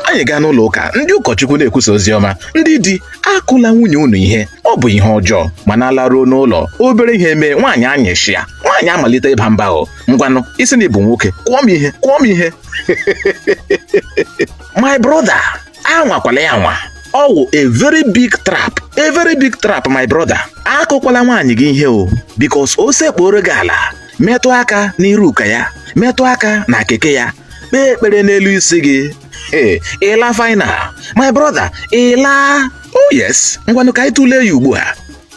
anyị gaa n'ụlọ ụka ndị ụkọchukwu na-ekwusa ozi ọma ndị di akụla nwunye unu ihe ọ bụ ihe ọjọọ mana a laruo n'ụlọ obere ihe mee nwaanyị anyịshịa nwaanyị amalite ịba mba o ngwanụ ị sị na ị bụ nwoke kụọ m ihe kụọ m ihe my brother anwakwala ya anwa ọ wụ a very big trap a very big trap my brother akụkwala nwaanyị gị ihe o because o sekpuoro gị ala metụ aka n'iru ụka ya metụ aka na keke ya kpee ekpere n'elu isi gị ee ị laa final my brother ị laa oh yes ngwanụ ka anyị tụlee ya ugbu a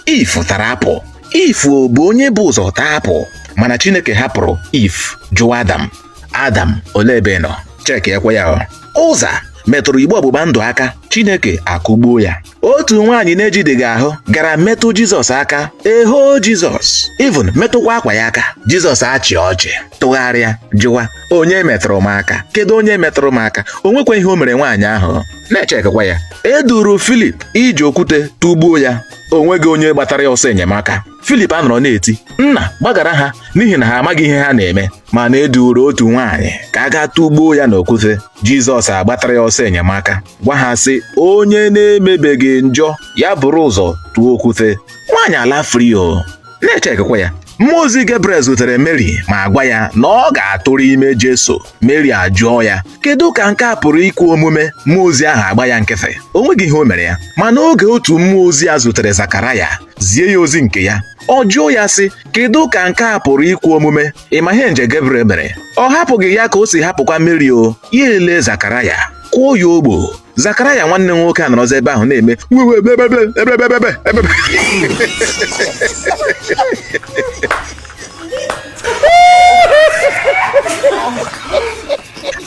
Eve tara apple Eve bụ onye bụ ụzọ taa apple mana chineke hapụrụ Eve jụọ adam adam olee ebe ị nọ chekiekwa ya Uzza metụrụ igbe ọgbụgba ndụ aka chineke akụgbuo ya otu nwaanyị na-ejideghị ahụ gara metụ Jizọs aka eho Jizọs even metụkwa akwa ya aka Jizọs achị ọchị tụgharịa jụwa onye metụrụ m aka kedu onye metụrụ m aka o nwekwa ihe o mere nwaanyị ahụ na-echekwa ya e duuru Filip iji okwute tụgbuo ya o nweghị onye gbatara ya ọsọ enyemaka Filip anọrọ na-eti nna gbaghara ha n'ihi na ha amaghị ihe ha na-eme mana e duuru otu nwaanyị ka a gaa tụgbuo ya n'okwute Jizọs agbatara ya ọsọ enyemaka gwa ha sị onye na-emebeghị njọ ya bụrụ ụzọ tụọ okwute nwaanyị alaa free o na-echekwa ya mmụọ ozi Gabriel zutere Mary ma gwa ya na ọ ga-atụrụ ime Jesu Mary ajụọ ya kedu ka nke a pụrụ ikwe omume mmụọ ozi ahụ agba ya nkịtị o nweghị ihe o mere ya mana oge otu mmụọ ozi a zutere Zakaraya zie ya ozi nke ya ọ jụọ ya sị kedu ka nke a pụrụ ikwe omume ị ma ihe angel Gabriel mere ọ hapụghị ya ka o si hapụkwa Mary o ya elee Zakaraya kụọ ya ogbu o Zakaraya nwanne nwoke anọrọzi ebe ahụ na-eme "Wewe, bebe, bebe, bebe, bebe, bebe, bebe."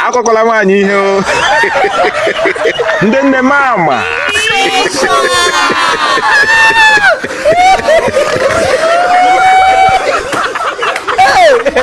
akụkwala nwaanyị ihe o ndị nne mama